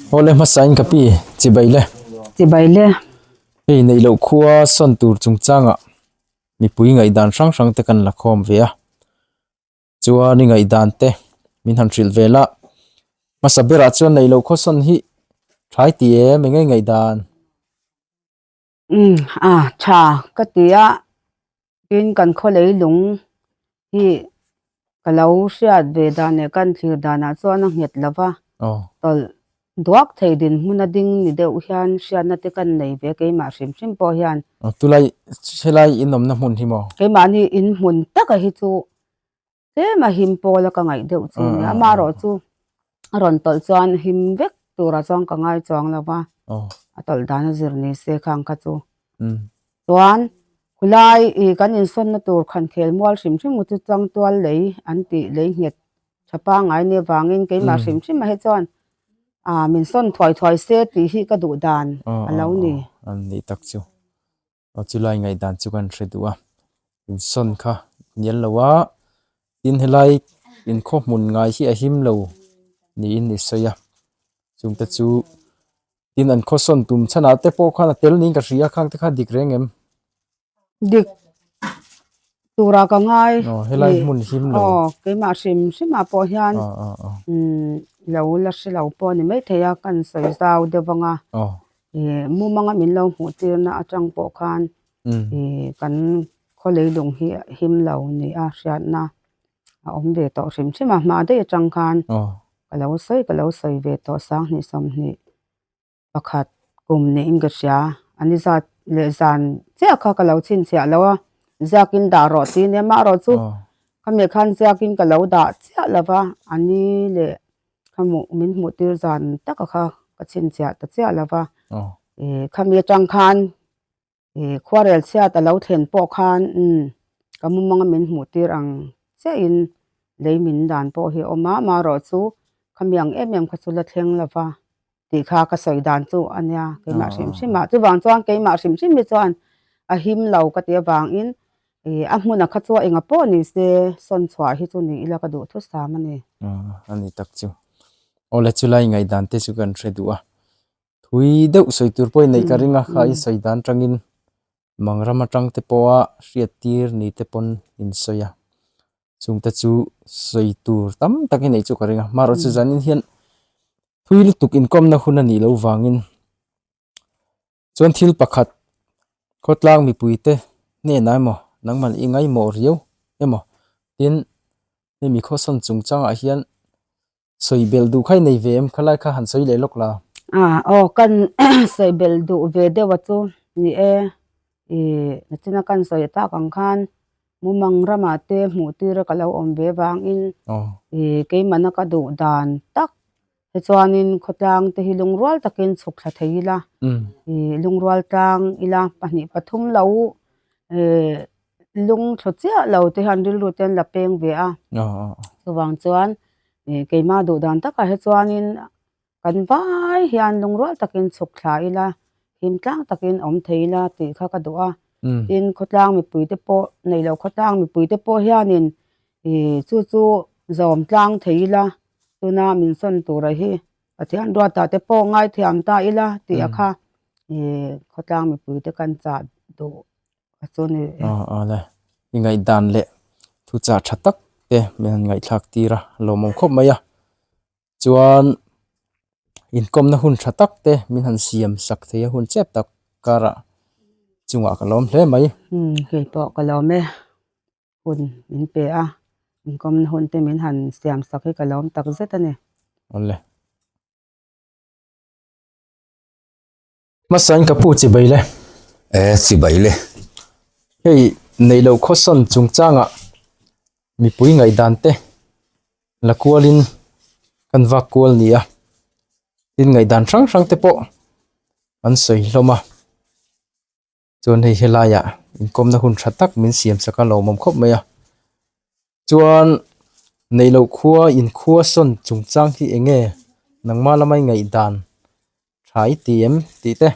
E: hawle
A: hmasa in ka pi chibai le chibai le hei neih loh khua sawn tur chungchangah mipui ngaihdan hrang hrang te kan la khawm ve a. Chuan i ngaihdan te min han hrilh ve la. Hmasa berah chuan nei lo khaw sawn hi thai ti em eng nge ngaihdan? Umm
F: a tha ka ti a, tin kan khaw leilung hi ka lo hriat ve dan leh kan thlir danah chuan a nghet lo va, tawlh Duak thei dinhmun a ding ni deuh hian hriatna te kan nei ve keimah hrim hrim pawh hian. Tulai,
A: helai in awmna hmun hi maw? Keimahni in hmun
F: taka hi chu tlema him pawl a ka ngaih deuh chu nia. Amarawh chu a rawn tawlh chuan him vek turah chuan ka ngai chuang lo va, a tawlh dan a zir ni se khang kha chu. Chuan khulai i kan insawnna tur khan khel mual hrim hrim u chu tlangtual lei an tih lei nghet Tha pangai nia vangin keimah hrim hrim a hi chuan aah min sawn thuai thuai se tih hi ka duh dan a lo ni. An nih tak chu.
A: Aw chulai ngaih dan chu kan hre duh a. In sawn kha nel lo a tin helai in khaw hmun ngai hi a him lo niin i sawi a. Chung te chu tin an khaw sawn tum chhan ah te pawh khan a tel niin ka hria khang te kha dik reng em?
F: dik tura ka ngai ni aw helai hmun hlim
A: lo aw keimah hrim
F: hrim ah pawh hian aw aw aw umm lo la hre lo pawh ani mai thei a ka rawn sawi zau deuh vang a aw eh mumang a min lo hmuh tir na atang pawh khan umm eh kan khawlei lung hi a him lo ni a hriat na a awm ve tawh hrim hrim a hma daih atang khan aw ka lo sawi ka lo sawi ve tawh sang hnih sawm hnih. pakhat kum niin ka hria a ni zat leh zan chiah kha ka lo chhinchhiah lo a ziakin dah rawh tih i nia mah rawh chu khami khan ziakin ka lo dah chiah lo va ani leh khamuh min hmuh tir zan taka kha ka chhinchhiah ta chiah lo va khami atang khan. Eh, khuarel chhiat a lo thlen pawh khan umm ka mumanga min hmuh tir ang che in lei min dan pawh hi a awm a, amaherawh chu ka miang em em kha chu la thleng lo va tih kha ka sawi dan chu a nia keimah hrim hrim ah. Chuvang chuan keimah hrim hrim hi chuan a him lo ka ti avang in eh a hmuna kha chu a enga pawh ni se sawn chhuah hi chu ni ila ka duh thusam a ni. Umm, a ni tak chu.
A: Aw le chulai ngaihdan te chu kan hre duh a, thui deuh sawi tur pawhin neih ka ring a kha insawi dan tangin mang ram atang te pawha hriat tir ni te pawn in sawi a chungte chu sawi tur tam tak i neih chu ka ring a mahro chu zanin hian thui lutuk inkawmna hun a nih loh vangin chuan thil pakhat khawtlang mipuite hnenah emaw nangmal i ngaimawh riau emaw tin hemi khawsawn chung changah hian Sawi bel duh khai nei ve em? Kha lai kha han sawi leh lawk la. Ah, aw, kan
F: sawi bel duh ve deuh a chu ni e. Ih, nachin a kan sawi tak ang khan Mumang ramah te hmuhtira ka lo awm ve vangin ih, keimahna ka duh dan tak. Tichuanin khawtlang te hi lungrual takin chhuk thla thei ila. Ih, lungrual tlang ila pahnih pathum lo eh. lung thlaw chiah lo te hian rilru te an la peng ve a chuvang chuan ih keima duh dan tak ah hi chuanin kan vai hian lung rual takin chhuk thla ila hlim tlang takin awm thei ila tih kha ka duh a tin khawtlang mipui te pawh neih loh khawtlang mipui te pawh hianin ih chu chu zawm tlang thei ila tuna min sawn tur ah hi Pathian ruatah te pawh ngaithiam ta ila tih a kha ih khawtlang mipui te kan chah duh-- a chu ni reh e. Aw aw le,
A: i ngaihdan leh thu chah tha tak te min han ngaihthlak tir a, a lawmawm khawp mai a, chuan inkawmna hun tha tak te min han siam sak theih a hun chep tak karah chungah ka lawm hle mai. Hmm, kei pawh ka
F: lawm e, hun min pe a, inkawmna hun te min han siam sak hi ka lawm tak zet a ni. Aw le.
A: Hmasa in ka pu chi bai le. E chi
B: bai le. Hei
A: nei lo khawsawn chung chang ah mipui ngaih dan te la kual in kan vak kual ni a tin ngaih dan hrang hrang te pawh an sawi hlawm a. chuan hei helaiah inkawmna hun tha tak min siam sak a lo awm khawp mai a chuan neihloh khua inkhuasawn chungchang hi eng nge nangma lama i ngaihdan tha i ti em tih te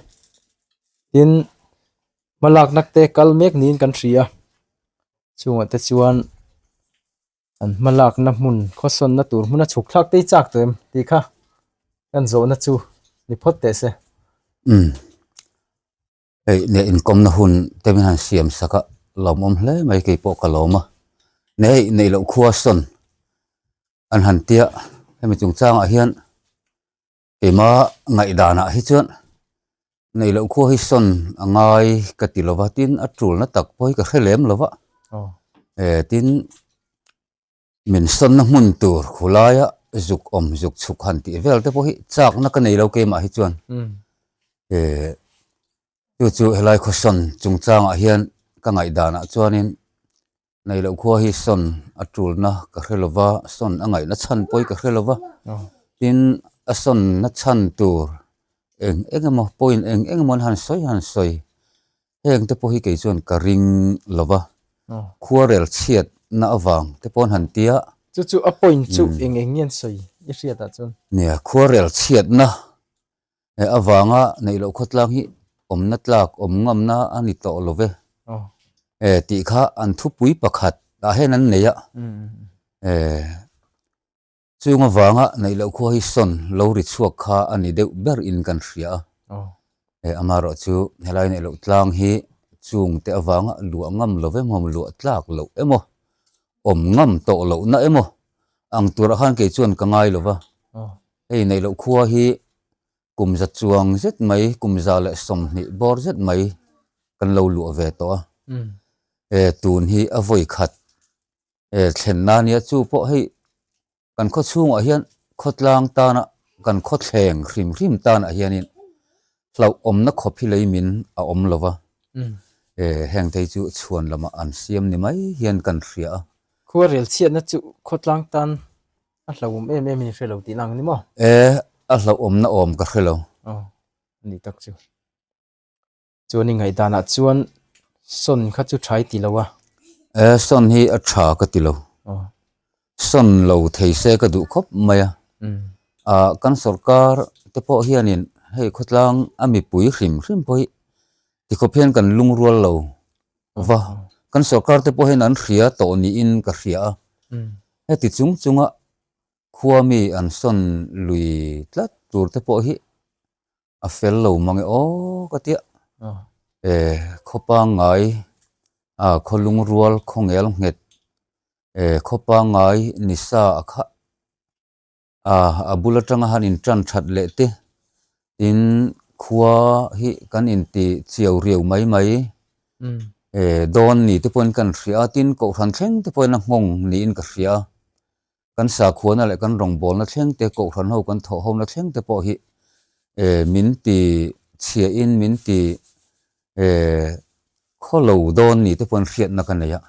A: tin hma lak nak te kal mek niin kan hria chungah te chuan an hma lakna hmun khawsawnna tur hmuna chhuk thlak te i chak tawh em tih kha kan zawhna chu ni phawt teh se.
B: hei leh inkawmna hun te hian han siam sak a lawmawm hle mai keipawh ka lawm a ni hei neih loh khua sawn an han ti a hemi chung changah hian keima ngaihdanah hi chuan neih loh khua hi sawn a ngai ka ti lo va tin a tulna tak pawh hi ka hre lem lo va e tin-- Min sawnna hmun tur khulaia zuk awm zuk chhuk han tih vel te pawh hi chakna ka nei lo kei mah hi chuan he chu chu helai khaw sawn chungchangah hian ka ngaihdanah chuanin nei loh khua hi sawn a tulna ka hre lova sawn a ngaihna chhan pawh hi ka hre lova tin a sawnna chhan tur eng eng emaw point eng eng emaw han sawi han sawi heng te pawh hi kei chuan ka ring lo va, khuarel chhiat na avang te pawh han tia. Chu chu a point
A: chu eng eng nge an sawi i hriat ah chuan. Nia khuarel
B: chhiat na he avanga neih loh khawtlang hi awm na tlak awm ngam na a ni tawh lo ve e tih kha an thupui pakhat ah hian an nei a e. Chung avanga neih loh khua hi sawn lo ri chhuak kha a ni deuh ber in kan hria a. He ama erawh chu helai neih loh tlang hi chung te avanga luah ngam lo em awm luah tlak loh em aw awm ngam tawh loh na em aw ang tur ah khan kei chuan ka ngai lova hei neih loh khua hi kum za chuang zet mai kum za leh sawmhnih bawr zet mai kan lo luah ve tawh a e tun hi a vawi khat e thlenna nia chu pawh hei kan khaw chhungah hian khaw tlang tana kan khaw thleng hrim hrim tanah hianin hlauh awmna khawp hi lei min a awm lo va e heng thei chu chhuan lamah an siam ni mai hian kan hria a khaw rel chhiatna
A: chu khaw tlang tan a hlauh awm em em in hre lo tihna ang ni maw e a hlauh
B: awmna awm ka hre lo a ni
A: tak chu chuan i ngaihdanah chuan sawn kha chu thai ti lo a. E, sawn
B: hi a tha ka ti lo. Oh. Sawn lo thei se ka duh khawp mai a. Mm. A, kan sorkar te pawh hianin hei khawtlang a mipui hrim hrim pawh hi tikhawp hian kan lungrual lo va. Kan sorkar te pawh hian an hria tawh niin ka hria a. Mm. Heti chung chunga khuami an sawn lui tlat tur te pawh hi a fel lo mang e aw ka ti a e khaw pangai a khaw lung rual khaw nghel nghet e khaw pangai ni sa a kha a a bul atanga han in tan that leh te tin khua hi kan in ti chiau riau mai mai e dawn ni te pawhin kan hria tin kohhran thleng te pawhin a nghawng niin ka hria Kan sakhuana leh kan rawngbawlna thlengte, kohhranho kan thawhhona thlengte pawh hi min ti chhiahin, min ti khaw lo dawn ni te pawhin hriatna ka nei a.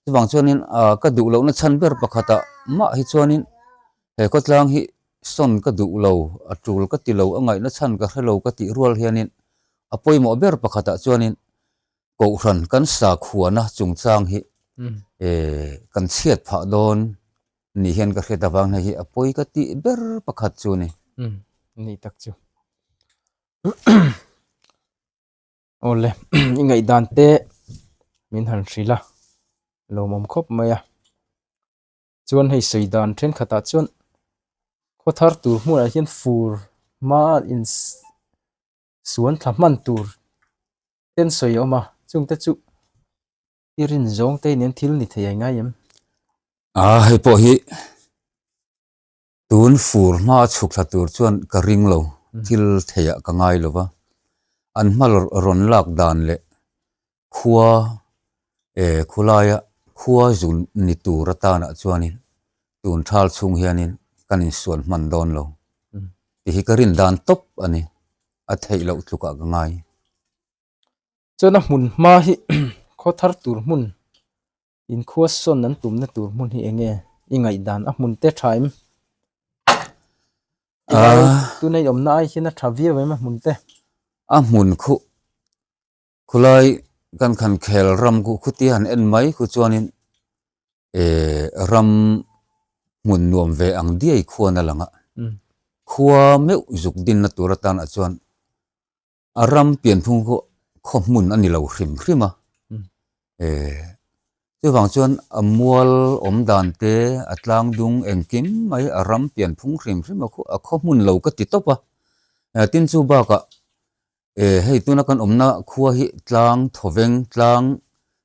B: Chuvang chuanin ka duh lohna chhan ber pakhatah mah hi chuanin he khawtlang hi sawn ka duh lo, a tul ka ti lo, a ngaihna chhan ka hre lo ka tih rual hianin a pawimawh ber pakhatah chuanin Kohhran kan sa khuana chungchang hi kan chhiat phah dawn nih hian ka hriat avang hna hi a pawi ka tih ber pakhat chu ni. Ni tak
A: chu. Aw le, i ngaihdan te min han hrilh a, lawm awm khawp mai a. Chuan hei sawi dan thenkhatah chuan khawthar tur hmunah hian fur hmaa in. suan thla hman tur ten sawi a awm a chung te chu i rin zawng te nen thil ni thei ai ngai em? Aa
B: hei pawh hi tun fur hma a chhuk thla tur chuan ka ring lo thil thei ah ka ngai lo va an hma rawn lak dan leh khua eh khulaia khua zun ni tur atana chuanin tun thal chhung hianin kan insuan hman dawn lo tih hi ka rin dan tawp a ni, a theih loh tlukah ka ngai.
A: Chuan a hmun hma hi khaw thar tur hmun in khua sawn an tumna tur hmun hi enge i ngaihdan a hmun te tha em? Tunei awmna ai hian a tha viau em a hmun te? A hmun
B: khuh Khulai kan khan khel ram ku khuti han en mai khu chuanin eh ram hmun nuam ve ang diai khuan a lang a. Khua meuh zuk dinna tur atan ah chuan a ram pian phung khaw khaw hmun a ni lo hrim hrim a. Eh chuvang chuan a mual awm dan te a tlang dung engkim mai a ram pian phung hrim hrim a khaw hmun lo ka ti tawp a. Tin chu bakah E, hei tuna kan awmna khua hi tlang thawveng, tlang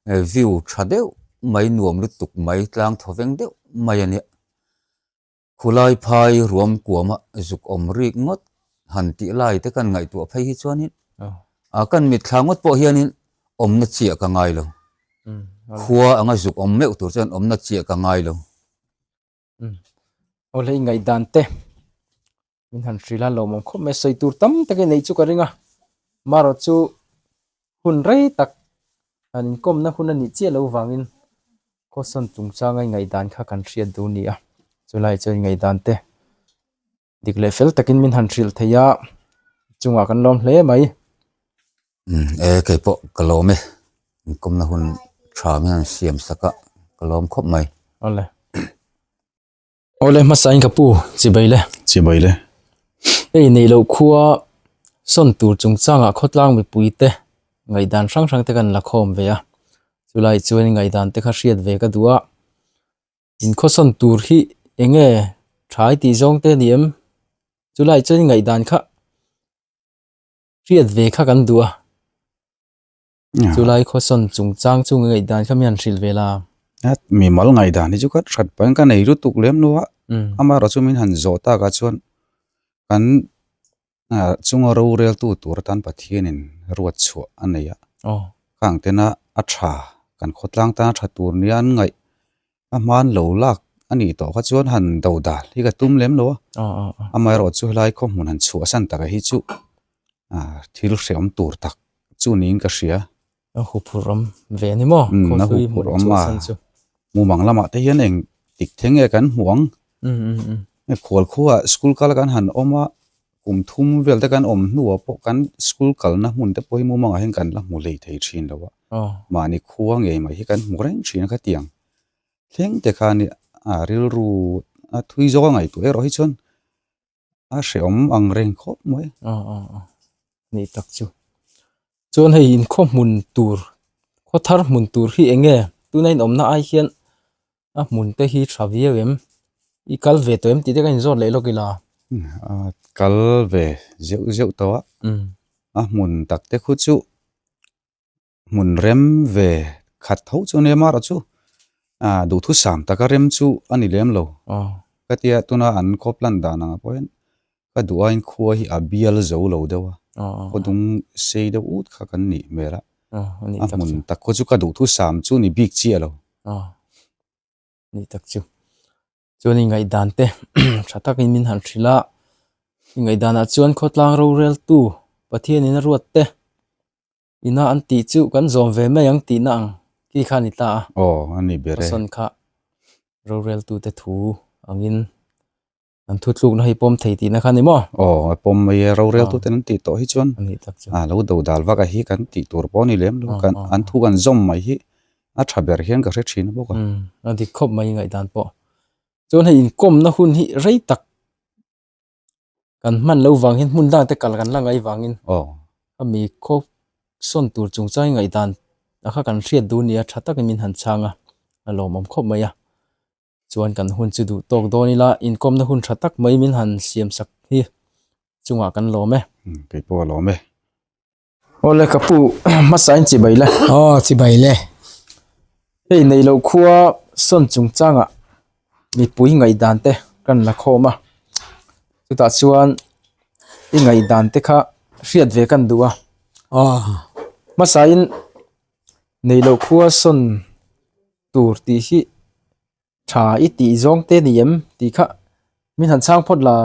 B: view tha deuh mai, nuam lutuk mai, tlang thawveng deuh mai a nia. Khulai phai ruam kuama zuk awm rik ngawt han tih lai te kan ngaihtuah phei hi chuanin a kan mit thla ngawt pawh hianin awmna chiah ka ngai lo. Khua anga zuk awm meuh tur chuan awmna chiah ka ngai lo.
A: Awle ingaihdan te min han hrilh a lawmawm khawp mai a sawi tur tam tak in neih chu ka ring a marawh chu hun rei tak han inkawmna hun a nih chiah loh vangin caution chung changa ingaihdan kha kan hriat duh a ni a chulai chuan ingaihdan te. dik leh fel takin min han hrilh theih a chungah kan lawm hle mai
B: e keipawh ka lawm e in kawmna hun tha nge an siam sak a ka lawm khawp mai awle
A: awle hmasa in ka pu chibai le chibai le ei nei lo khuwa sawn tur chung changa khawtlang mipui te ngaidan hrang hrang te kan la khawm ve a chulai chuan ngaidante kha hriat ve ka duh a Inkhawsawn tur hi eng nge thai tih zawng te ni em? Chulai chuan ngaihdan kha hriat ve kha kan duh a, chulai khawsawn chungchang chung ngaih dan kha mian hrilh ve la. Mimal
G: ngaihdan hi chu ka hrat pahin ka nei lutuk lem lo a, amarawh chu min han zawh tak a chuan kan Aa, chunga roreltu tur atan Pathianin ruat chhuah a nei a. Aw. Ka ang tena a tha, kan khawtlang tana tha tur nia an ngaih. A hmaan lo lak a nih tawh kha chuan han do dal hi ka tum lem lo a. Aw, aw, aw. Amaherawh chu helai khaw hmun han chhuah a san takah hi chu, aa, thil hreawm tur tak chu niin ka hria. A huphurh awm
A: ve a ni maw? Khaw hlui a hmuh chu a san
G: chu. Mumang lamah te hian eng dik thei nge kan hmu ang. Hei khual khuaah school kala kan han awm a, kum thum vel te kan awm hnuah pawh kan school kalna hmun te pawh hi mumangah hian kan la hmu lei thei thin lo a. Mahni khua ngei mai hi kan hmu reng thin a khatiang. Thleng te khan rilru a thui zawk a ngaihtuah erawh hi chuan a hrehawm ang reng khawp mai a a
A: a ni tak chu chuan hei inkhaw hmun tur khaw thar hmun tur hi eng nge tuna inawmna ai hian a hmun te hi tha viau em i kal ve tawh em tih te ka inzawt leh lawk ila a
G: kal ve zeuh zeuh tawh a a hmun tak te khu chu. hmun rem ve khat tho chu nia mar a chu ah duhthusam thusaam taka rem chu a ni lem lo ka tia tuna an khawp lan dan ang pawh hian ka duain khua hi a bial zo lo deuh a khaw dung sei deuh ut kha kan nih hmel a a hmun tak khaw chu ka duhthusam chu ni bik chiah lo
A: ni tak chu chuan i ngaihdan te tha takin min han hrilh a i ngaihdanah chuan khawtlang rorel tu pathianin a ruat te. Ina an tih chu kan
G: zawm ve mai ang tihna ang khi kha a ni ta a. Aw, a ni ber e. Pasawn kha roreltute thu
A: angin an thutlukna hi pawm thei tihna kha a ni maw? Aw,
G: a pawm mai e. Roreltuten an tih tawh hi chuan a
A: lo do dal vak a hi kan tih tur pawh a ni lem lo.
G: An thu an zawm mai hi a tha ber hian ka hre thin bawk a. A dik khawp mai ngaihdan pawh. Chuan hei inkawmna hun hi rei tak
A: kan hman loh vang hian hmun dangte kal kan la ngaih vang in aw a mi khawp sawn tur chung chuan ngaih dan a kha kan hriat duh nia tha tak in min han chhang a a lawm awm khawp mai a chuan kan hun chu duh tawk dawn
G: ila inkawm na hun tha tak mai min han siam sak hi chungah kan lawm e. Keipawh a lawm e. Aw le
A: ka pu hmasa in chibai la. Aw
B: chibai le. Hei nei lo khua sawn chung changa mipui ngaihdan te kan la khawm
A: a. Chutah chuan i ngaihdan te kha hriat ve kan duh a. Aw hmasa in nei lo khua sawn tur tih hi tha i tih zawng
B: te ni em tih kha min han chhang phawt la.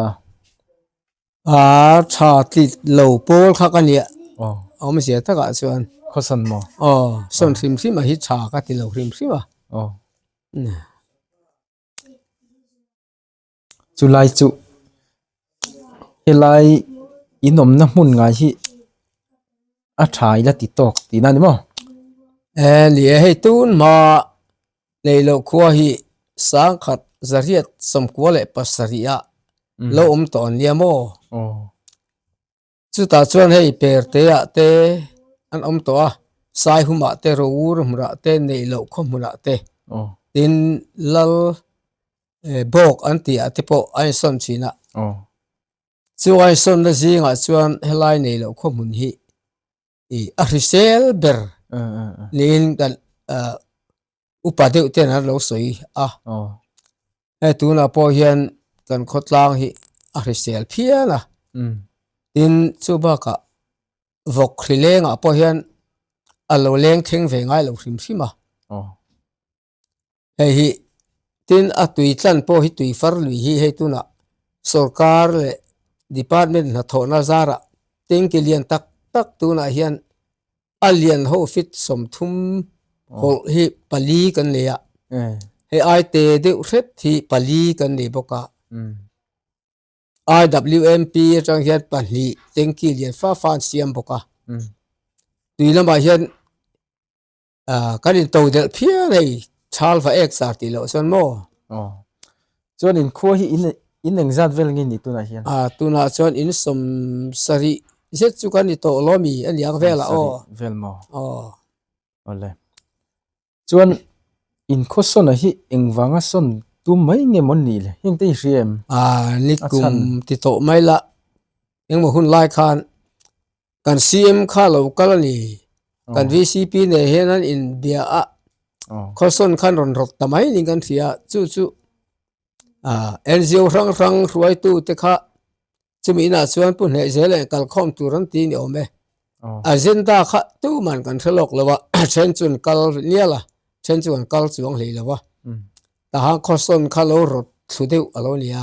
B: Aa tha tlit lo pawl kha ka nih awm zia takah chuan
A: khawsan maw aw sawn hrim hrim a hi
B: tha ka ti lo hrim hrim a aw
A: chulai chu helai in awmna hmun ngai hi a tha ila ti tawk tihna a ni maw e ni e hei tun mah. Leiloh khua hi sangkhat zariat sawmkua leh pasarih ah lo awm tawn nia maw? Chutah chuan hei Perte ah te an awm tawh a, Saihum ah te, Rawur hmun
B: ah te, Neiloh khua hmun ah te. Tin, Lal bawk an tih ah te pawh a insawn thin a. Chu a insawnna zingah chuan helai Neiloh khua hmun hi a hrisel ber niin kan upa deuh ten an lo sawi a hei tunah pawh hian kan khawtlang hi a hrisel phian a tin chu bakah vawk hrilengah pawh hian a lo lengthleng ve ngailo hrim hrim a. hei hi tin a tui tlan pawh hi tui far lui hi hei tunah sawrkar leh department hnathawhna zara tanki lian tak tak tunah hian a lian ho feet sawmthum pawlh hi pali kan nei a he aite deuh hret hi pali kan nei bawk a IWMP atang hian pahnih tanki lian fah fah an siam bawk a tui lamah hian Ah, kan in to del phiar hei, chal va ek sar ti lo
A: chuan maw? Oh. Chuan in khua hi in in eng zat vel nge ni tunah hian? Ah, tunah chuan in
B: sawm sarih zet chu kan i tawh lo mi a niang vel a aw. Vel maw? Aw.
A: Aw le. Chuan in khaw sawn a hi eng vanga sawn tum mai nge maw ni le, heng te i hria em? Ah, ni
B: kum ti tawh mai la, engmaw hun lai khan Kan CM kha lo kal ani. Kan VCP nei hian an in bia a. Khawsawn khan rawn rawt ta mai ni kan hria. Chu chu NGO hrang hrang hruai tu te kha chumi na chuan pu hneh zel en kal khawm tur an ti ni awm e. Agenda kha tu man kan hre lawk lo a. Then chun kal nial a. Then chu kan kal chuang hlei lo a. Tah han khawsawn kha lo rawt thlu deuh a lo ni a.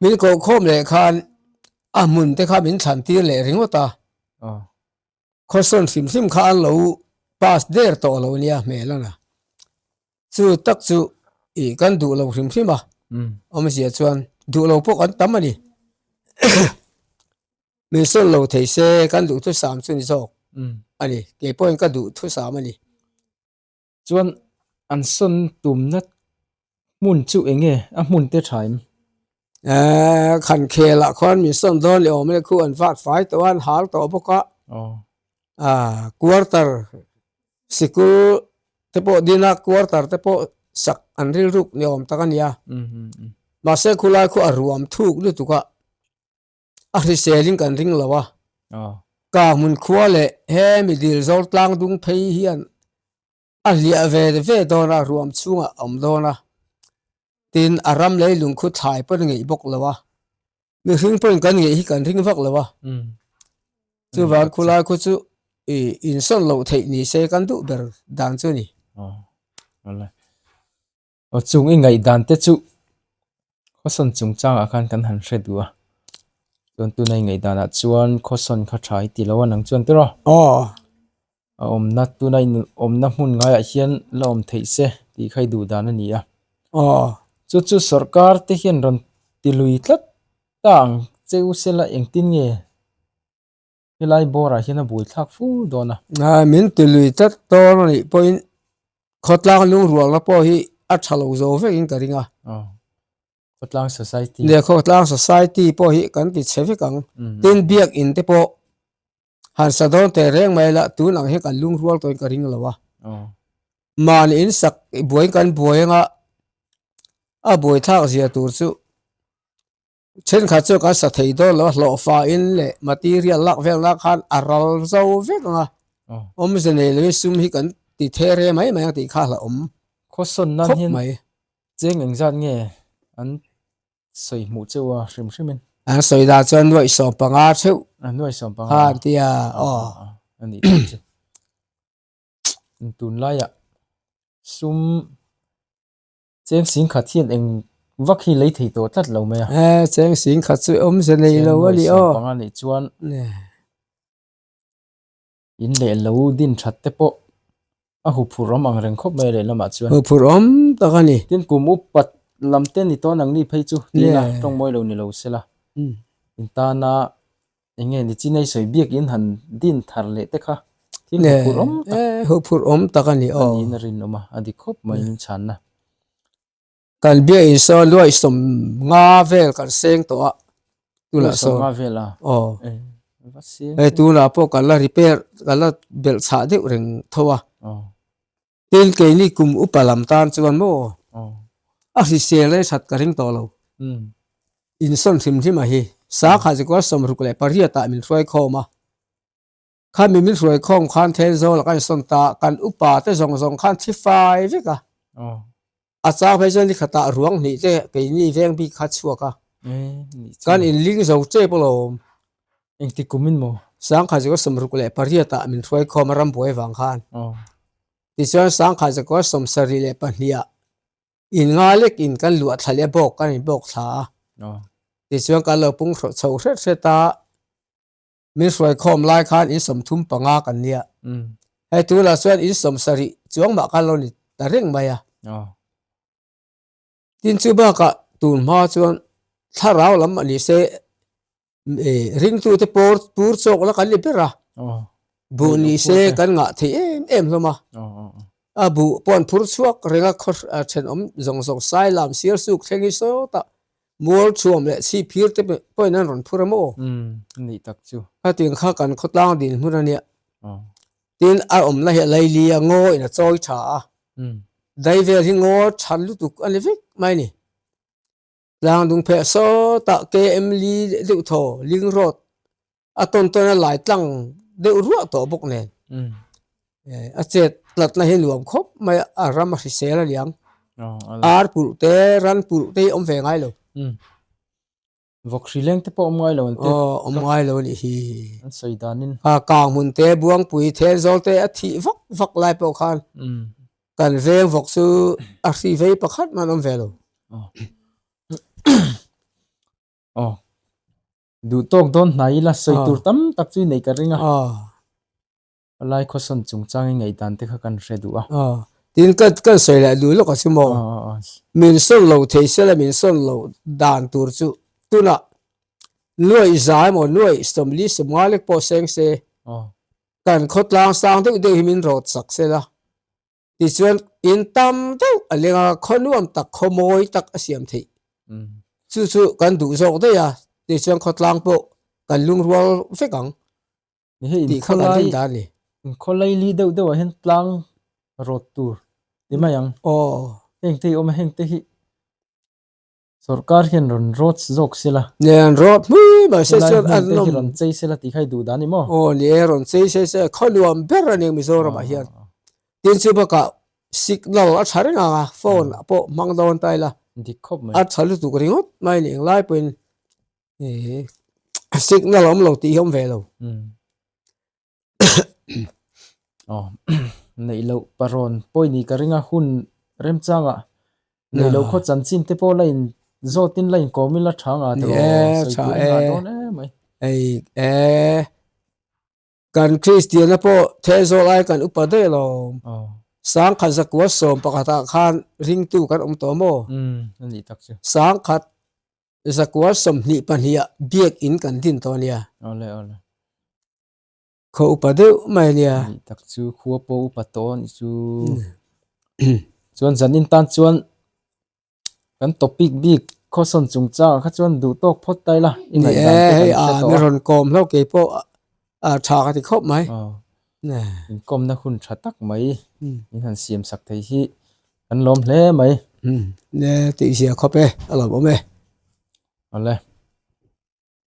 B: min koh khawm leh khan a hmun te kha min thlan tir leh ringawt a question hrim hrim kha an lo pass der tawh lo nia hmel a la chu tak chu ih kan duh lo hrim
A: hrim a awm zia chuan duh lo pawh kan tam a ni min sawn lo thei se kan duh thusam chu ni zawk a ni kei pawhin ka duh thusam a ni. Chuan an sawn tumna hmun chu eng nge a hmun te tha em? Eee khan khelah khuan min sawn dawn leh awm e, khu an vat fai tawh a, an hal tawh bawk a, quarter sikul
H: te pawh dina quarter te pawh sak an rilruk ni awm tak a nia, mahse khulai khuan a ruam thuk lutuk a. a hriselin kan ring lo a kah hmun khua leh he midil zawr tlang dung phei hian a hliah ve ve dawn a ruam chhungah a awm dawn a tin a ram lei lung khuh thlai pawh a ni ngei bawk lo a mihring pawhin kan ngei hi kan ring vak lo a chuvang khulai khaw chu insawn loh
A: theih ni se kan duh ber dan chu a ni. Aw chung i ngaihdan te chu khawsawn chungchangah khan kan han hre duh a, chuan tuna i ngaihdanah chuan khawsawn kha tha i tilo a nang chuan tiraw? Aw. A awmna tuna in awmna hmun ngaiah hian la awm theih se tih kha i duh dan a ni a. Aw. Chu chu sorkar te hian rawn ti lui tlat ta ang cheu se
H: la engtin nge Helai bawrah hian a bui thlak fur dawn a. Aa, min ti lui tlat dawn a nih pawhin khawtlang lung rualna pawh hi a tha lo zo vekin ka
A: ring a. Aw, khawtlang society. Nia, khawtlang society
H: pawh hi kan ti chhe vek ang. Tin biakinn te pawh han sa dawn teh reng mai ila tunah hian kan lung rual tawhin ka ring lo a. Aw. Man in sak buaiin kan buai anga a bui thlak zia tur chu Thenkhat chu kan sa thei dawn lo a hlawhfa in leh material lak vel na khan a ral zo vek ang a
A: awmze nei lo in sum hi kan ti the re mai mai ang tih kha a la awm khawsawn nan hian cheng eng zat nge an sawi hmuh cheu a hrim hrim in
H: an sawi dan chuan nuaih sawm panga theuh a nuaih sawm
A: panga khan ti a
H: aw a ni tih
A: chu tun lai ah sum Cheng sing khat hian eng vak hi lei
H: thei tawh tlat lo mai a. He cheng sing khat chu awm ze nei lo a ni aw. Cheng nuaih siam panga
A: nih chuan in leh lo din that te pawh a hu phurh awm ang reng khawp mai
H: a lehlamah chuan. Hu phurh awm tak a ni. Tin kum upat lam te ni tawn ang ni phei chu tiin a
A: tawng mawi lo ni lo se la. In tana Enge ni chin ei sawi biak in han din thar leh
H: te kha. Thil hmu phur awm tak. Eeh hmu phur awm tak a ni aw. Ani in a rin awm a,
A: a dik khawp mai in chhan na. Kan
H: biak in sawn luaihsawm nga vel kan seng tawh a.
A: Tunah sawn. Luaihsawm nga vel a? Aw. Eeh va seng tawh. Hei tunah pawh kan la repair, kan la belh chhah deuh reng tho a. Aw. Tin keini kum upa lam tan chuan
H: maw a hrisel rei that ka ring tawh lo. Insawn hrim hrim a hi. Sa kha zikual sawmruk leh pariatah min hruai khawm a. Kha min min hruai khawm khan Thenzawl a kan sawn ta, kan upa te zawng zawng khan thi fai vek a. A chang
A: phei chuan ni khata ruang hnih te keini veng bik kha chhuak a, kan inling zo che pawh lo. Engti kum in maw? Sangkha Jacob Sawmruk leh pariatah min hruaikhawm a rambuai avang khan. Tichuan Sangkha Jacob Sawmsarih leh pahniha in nga lek in kan luah thla leh bawk kan inbawk thla a.
H: Tichuan kan lo pung chho hret hret a. min hruai khawm lai khan in sawm thum panga kan nia he tu lah chuan in sawm sarih chuang mah khan lo ni ta reng mai a tin chu baka tun hma chuan thlarau lam ani se e ring tu te por pur chok la kan ni bera bu ni se kan ngah thei em em
A: hloma a bu pon phur chuak renga khaw then om zong zong sai lam sir suk thleng hi saw ta Mual chhuam leh chhip phir te pawhin an rawn phur a maw? Umm, a nih tak chu. Hetin kha kan khawtlang dil hmun a nia. Aw. Tin, a awm la hi Leilia ngawiin a chawi tha a. Umm. Dai
H: vel hi ngaw chhan lutuk a ni vek mai ni. Tlangdung pheh sawtah KM Lee deuh thaw, Ling Road, a tawn tawn a lai tlang deuh ruah tawh bawk nen a chet tlat na hi nuam khawp mai
A: a ram a hrisel a niang ar pulh te ran pulh te awm ve ngai lo vawk hri leng te pawh awm ngai lo an ti awm
H: ngai lo ni hi an sawi dan
A: in a kang hun te buang pui the zol te a thi
H: vak vak lai pawh khan kan veng vawk chu a hri vei pakhat man awm ve lo
A: oh Duh tawk dawn hna ila sawi tur tam tak chu i neih ka ring a. Palai khawsawn chung changin ngaihdan te kha kan hre duh a. Tiin kan sawi leh duh lawk a si maw? Min sawn lo
H: thei sela min sawn lo dan tur chu tunah nuaih za emaw nuaih sawmli sawm ngalek pawh seng se kan khawtlang sang deuh deuh hi min rawt sak sela Tichuan in tam deuh a leng a, khaw nuam tak, khaw mawi tak a siam theih. Chu chu kan duh zawk daih a, tichuan khaw tlang pawh kan lungrual vek ang tih
A: kha kan rin dan a ni.
H: In
A: khaw
H: lei li
A: deuh deuh ah hian tlang rawt tur ti mai ang. Aw. Heng
H: te hi a awm a,
A: heng te hi. Sorkar hian rawn rawt zawk sela. Nia an rawt hmi
H: mah se chuan an awm. Helai hmun te hi rawn chei sela
A: tih kha i
H: duh
A: dan ni maw? Aw ni e, rawn chei
H: se se khaw nuam ber a ni ang Mizoramah hian. Tin chu bakah signal a tha reng ang a, phone pawh hmang dawn ta ila. Dik khawp mai. A tha
A: lutuk ringawt
H: mai ni ang lai pawhin signal a awm lo tih hi a awm ve lo.
A: aw neih loh parawn pawi ni ka ring a hun remchang ah neih loh khaw chanchin te pawh la in zawt in la in kawm ila tha ngah tawh sawi tur a nghah dawn em
H: mai.
A: Hei eeh
H: kan kristiana pawh thel zawh lai kan upa daih lo sangkhat zakua sawm pakhat ah khan ring tu kan awm tawh maw
A: sangkhat
H: zakua sawmhnih pahnih ah biak in kan din tawh a nia. kho upa deuh mai nia. Nih tak chu khua
A: pawh upa tawh anih chu. Chuan zan in tan chuan kan tawp bik bik caution chung chang ah kha chuan duh tawk phawt ta ila i ngaih dan te kan hre tawh a. Nih e hei an i rawn kawm hlauh
H: ke pawh a tha ka ti khawp mai. Inkawmna hun
A: tha tak mai i han siam sak thei hi kan lawm hle
H: mai.
A: Tih ziah khawp
H: e
A: a lo
H: awm e. Awle.